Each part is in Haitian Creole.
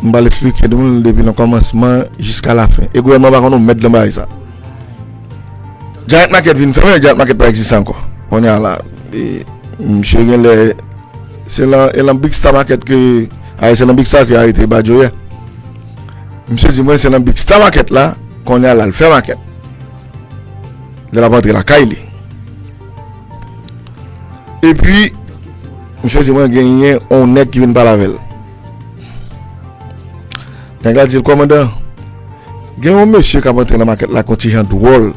M pral esplike nou l depi nan kòmansman jiska lafen. E gouvènman an pa konn yon mèd nan bagay sa. Giant Market vin fèmen, Giant Market pa egziste ankò. Kounye a la, misye genlè se nan Big Star Market ke arete Badio yè. Misye di mwen se nan Big Star Market la kounye a la l fè market. Lè l ap antre lakay li. E pi misye di mwen genyen yon nèg ki vin pale avè l. Nèg la di l, Kòmandan, gen yon mesye k ap antre nan makèt la ak yon ti jan dwòl.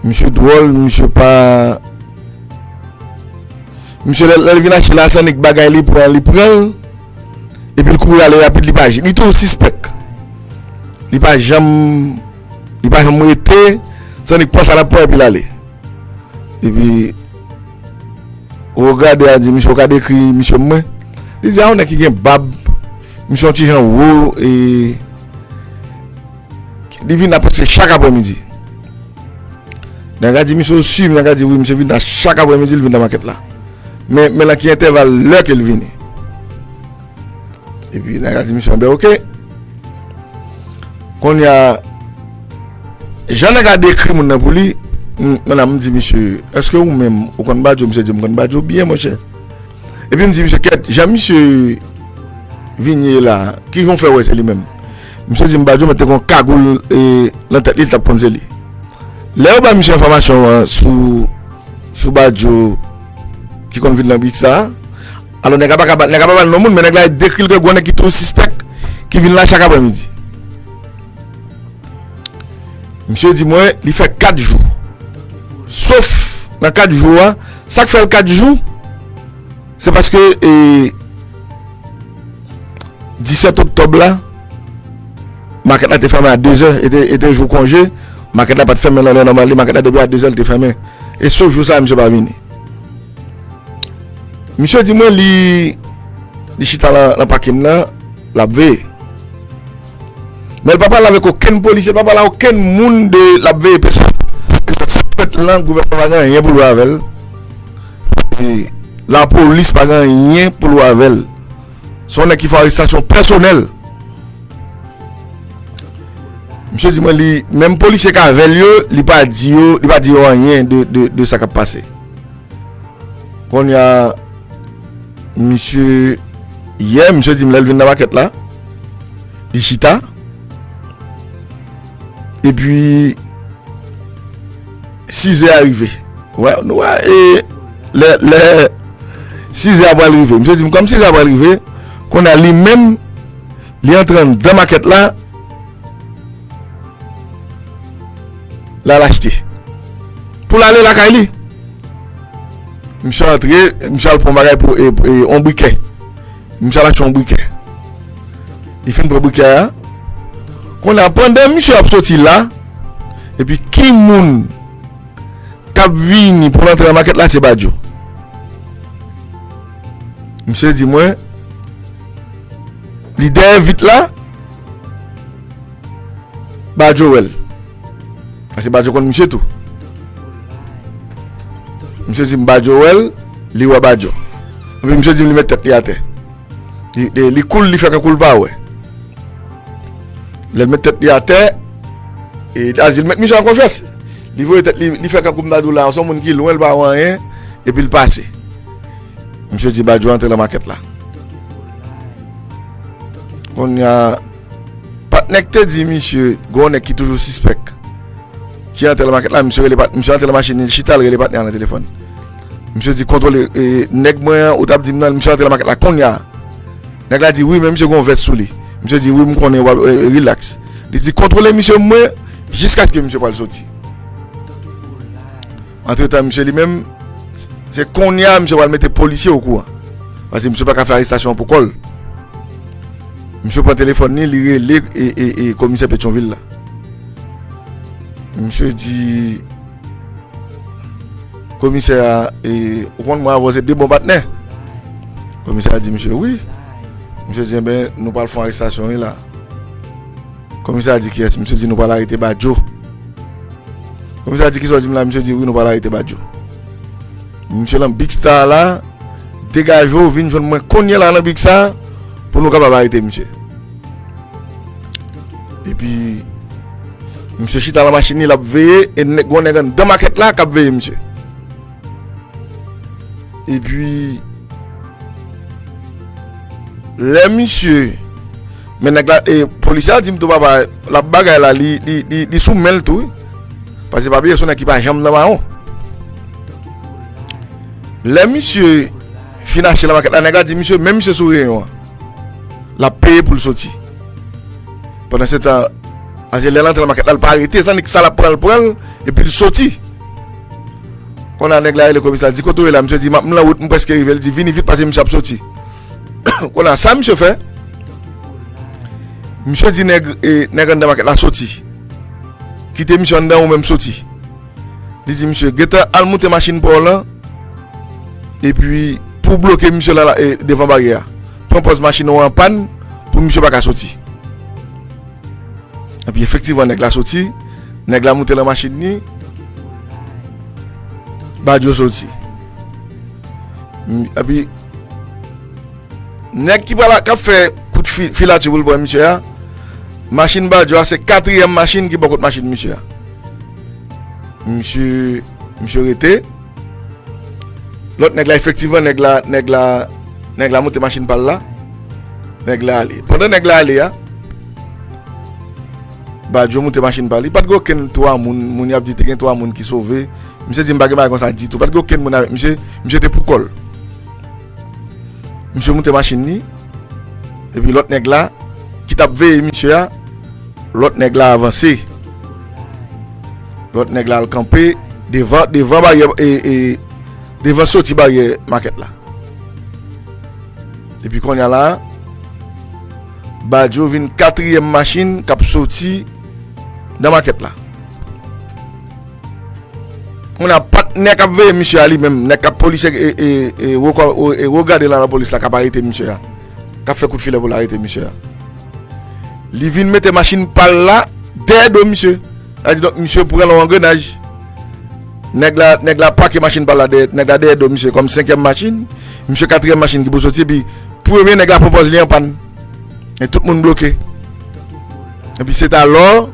Misye dwòl, misye pa. Misye lè l vin achte l la, se annik bagay li pran, li pran l, epi l kouri ale rapid, li pa janm. Li toujou sispèk. Li pa janm. Li pa janm rete, se annik pran sa l ap pran epi l ale. Epi. Ou gade a di misye ou ka dekri misye pou mwen? Li di a yon nèg ki gen bab, misye yon ti jan wo e li vin la prèske chak aprè midi. Nèg la di misye ou si? Nèg la di wi misye vin la chak aprè midi li vin nan makèt la. Men men lan ki entèval lè ke li vini. Epi nèg la di misye anbè ok. Konnya jan nèg la dekri moun nan pou li, m di misye eske ou menm ou konn badjo? Misye di m konn badjo byen monchè. Epi m di misye kèt jan misye vin ye la, ki jan ou fè wè se li menm? Misye di m badjo mete kon kagoul nan tèt li l t ap konn se li. Lè yo bay misye enfòmasyon an sou badjo ki konn vin nan brik sa a. Alò nèg la pa ka ba, nèg la pa ba non moun men nèg la dekri l ke gwo nèg ki tou sispèk ki vin la chak aprè midi. Misye di mwen li fè 4 jou. Sof nan 4 jou a, sak fè l 4 jou se paske e 17 oktòb la makèt la te fèmen a 2 zè e te jou konje, makèt la pat fèmen nan lè nòmal li, makèt la depi a 2 zè li te fèmen. E sof jou sa misye pa vini. Misye di mwen li li chita nan pakin nan l ap veye. Men l pa pale avèk okenn polisye, l pa pale a okenn moun de l ap veye pesòn. Sa k fèt lan gouvènman pa gen anyen pou l wè avè l. E lapolis pa gen anyen pou l wè avè l. Se yon nèg ki fè arestasyon pèsonèl. Misye di mwen li menm polisye k avè l yo li pa di yo li pa di yo anyen de sa k ap pase. Konya misye yè misye di m lèl vin nan makèt la li chita epi 6 è a rive wè nou wè e lè lè 6 è a pral rive misye di m kòm 6 è a pral rive konya li menm li entran nan makèt la La lachte. Pou l ale lakay li. Misye antre, misye al pran bagay pou yon brikè. Misye al achte yon brikè. Li fin pran brikè a. Kon a pandan misye ap soti la, epi ki moun kap vini pou antre nan makèt la se Badjo. Misye di mwen, li dèyè vit la, Bajo wè l. Paske Bajo konn misye tou. Misye di m Bajo wè l, li wè Bajo. Epi misye di m li met tèt li atè. Li koul, li fè tankou l pa wè. Lè l met tèt li atè, e li al di l mèt misye an konfyans. Li voye tèt li, li fè tankou m ta di w la, se yon moun ki lwen, l pa wè anyen, epi l pase. Misye di Badio antre lan makèt la. Konnya patnè k te di misye gen yon nèg ki toujou sispèk ki antre lan makèt la, misye rele patnè, misye antre lan machin li, li chita li rele patnè an nan telefòn. Misye di kontwole nèg mwen an ou t ap di m nan, misye antre lan makèt la konnya. Nèg la di wi men misye gen yon vès sou li. Misye di wi m konnen w ap rilaks. Li di kontwole misye mwen jiskaske misye pral soti. Antretan misye li menm, se konnya misye pral mete polisye okouran. Pase misye pa ka fè arestasyon an pou kò l. Misye pran telefòn li, li rele e komisè Petyonvil la. Misye di, komisè a, e ou konn mwen avè w se de bon patnè. Komisè a di misye, wi. Misye di, e ben nou pral fon arestasyon wi la. Komisè a di kiyès? Misye di nou pral arete Badjo. Komisè a di kisa w di m la? Misye di wi nou pral arete Badjo. Misye lan Big Star la, degaje w vin jwenn mwen kounye la lan Big Star pou nou kapab arete misye. Epi, misye chita lan machin li lap veye e gwo nèg anndan makèt la kap veye misye. E pi, lè misye, men nèg la, e polisye a di m tou papa, l ap bagay la, li sou men l tou wi, pase pa bliye se yon nèg ki pa janm nan mawon. Lè misye fin achte nan makèt la, nèg la di misye, men misye sou reyon an, l ap peye pou l soti. Pandan se tan, pase lè l antre nan makèt la, l pa rete, sa l ap pran, l pran l, e pi l soti. Konnya nèg la rele komisa l di kote w ye la misye di m ap m lan wout m prèske rive l di vini vit pase misye ap soti konnya sa misye fè misye di nèg e nèg anndan makèt la soti kite misye anndan ou menm soti li di misye gentan al moute machin pa w lan epi pou w bloke misye la e devan baryè a pran pòz machin ou an pàn pou misye pa ka soti epi efektivman nèg la soti nèg la moute lan machin ni. Badio soti. Epi, nèg ki pral kap fè kout filati pou l pran misye a, machin Badio a se katriyèm machin ki bò kot machin misye a. Misye, misye rete. Lòt nèg la efektivman nèg la, nèg la, nèg la monte machin pa l la. Nèg la ale. Pandan nèg la ale a. Badio moute machin pa li. Pa t gen okenn 3 moun. Moun y ap di te gen 3 moun ki sove. Misye di m pa gen bagay konsa ditou. Pa t gen okenn moun avèk misye. Misye te poukò l. Misye moute machin li. Epi lòt nèg la ki t ap veye misye a. Lòt nèg la avanse. Lòt nèg la al kanpe devan devan baryè e devan soti baryè makèt la. Epi kounye a la. Bajo vin katriyèm machin k ap soti nan makèt la. Kounye a, pa t nèg k ap veye misye a li menm, nèg k ap polisye e wo gade nan lapolis la k ap arete misye a, k ap fè kout filè pou l arete misye a. Li vin mete machin pa l la dèyè do misye. A di donk misye pran lon angrenaj. Nèg la, nèg la pake machin pa l la dèyè, nèg la dèyè do misye kòm senkyèm machin. Misye katriyèm machin ki pou soti epi premye nèg la pran pòz li an pàn. E tout moun bloke. Epi se ta lò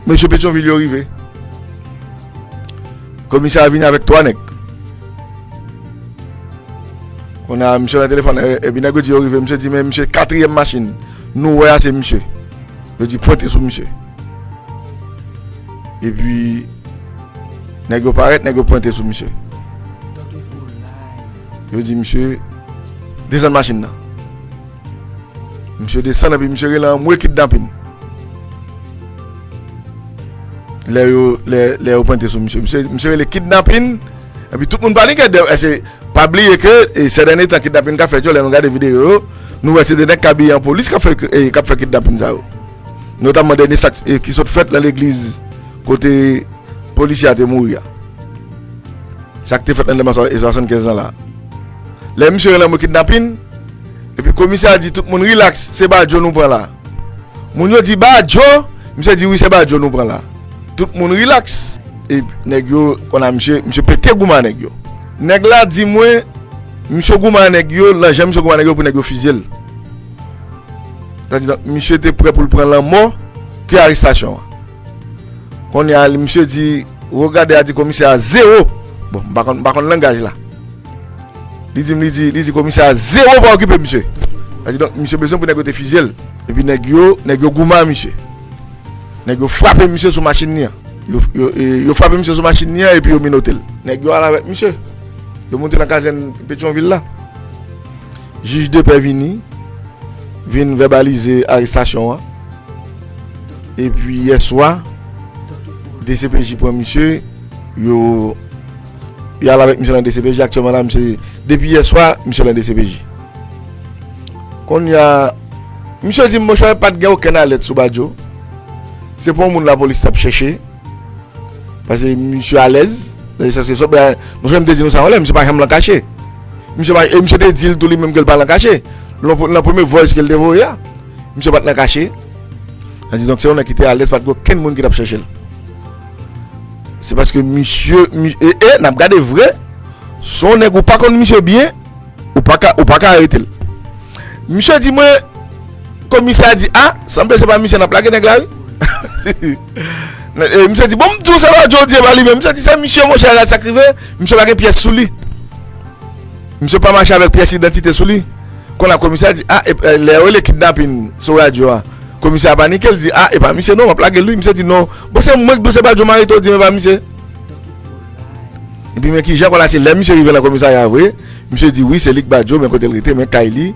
mesye Petyonvil yo rive. Komisè a vini avèk 3 nèg. Kounye a misye nan telefòn epi nèg yo di yo rive, misye di men misye katriyèm machin nou wè a se misye. Yo di pwente sou misye. E pi nèg yo parèt, nèg yo pwente sou misye. Yo di misye desann machin nan. Misye desann epi misye rele anmwe kidnapin. Lè yo pwente sou misye, misye rele kidnapin. Epi tout moun panike de eske pa bliye ke sè dènye tan kidnapin kap fèt yo lè nou gade videyo yo nou wè se de nèg ki abiye an polis kap fè kidnapin sa yo notamman dènye sa ki sot fèt nan legliz kote polisye a te mouri a sa ki te fèt nan deman 75 lan la lè misye relè mwen kidnapin epi komisè a di tout moun rilaks se badjo nou pran la. Moun yo di badjo misye di wi se badjo nou pran la tout moun relax e nèg yo konn a misye misye pete gouman a nèg yo nèg la di mwen misye gouman a nèg yo lan jan misye gouman a nèg yo pou nèg yo fizyel sa di donk misye te prè poul pran lanmò ke arestasyon an. Kounye a misye di Wo gade a di komisè a zewo Bon m pa konn langaj la Li di m li di komisè a zewo pa okipe misye Sa di donk misye bezwen pou nèg yo te fizye l Epi nèg yo nèg yo goumen a misye Nèg yo frape misye sou machin li an Yo frape misye sou machin li an epi yo minote l Nèg yo al avèk misye Yo monte nan kazèn petyon vil la. Jij depè vini, vin vèbalize arestasyon an. Epi yè swa, dcpj pran misye, yo y al avèk misye nan dcpj. Aktyèlman la, misye, depi yè swa, misye nan dcpj. Konnya, misye di m, monchè, pa t gen okenn alèt sou Badio. Se pa yon moun lapolis t ap chèche. Pase misye alèz. Nan esans ke sop la. Mwen fèm te di nou sa yon lè. Misye pa janm lan kache. Misye pa. E misye te di l tou li menm ke l pa lan kache. Lan premye voice ke l te voye a. Misye pat lan kache. Sa di donk se yon nèg ki te alèz. Pat gen okenn moun ki tap chèche l. Se paske misye. E e nap gade vre. Se yon nèg ou pa konn misye byen. Ou pa ka. Ou pa ka arete l. Misye di mwen. Komisè a di a. Sanble se pa misye nap lage nèg la wi. Hehe. E misye di, bon m di w se pa Jody e pa li menm. Misye di se misye monchè, gad sa k rive. Misye pa gen pyès sou li. Misye pa mache avèk pyès idantite sou li. Kon la komisè di, a, lè yo rele kidnapin sou radyo a. Komisè a panike, li di, a, e pa misye non, m ap lage l wi. Misye di, non, bon se mwen k di w se pa Joe Marito, di m e pa misye. Epi men ki jan kon la se lè misye rive nan komisarya a vre. Misye di, wi se li k ba Joe men kote l rete, men kay li.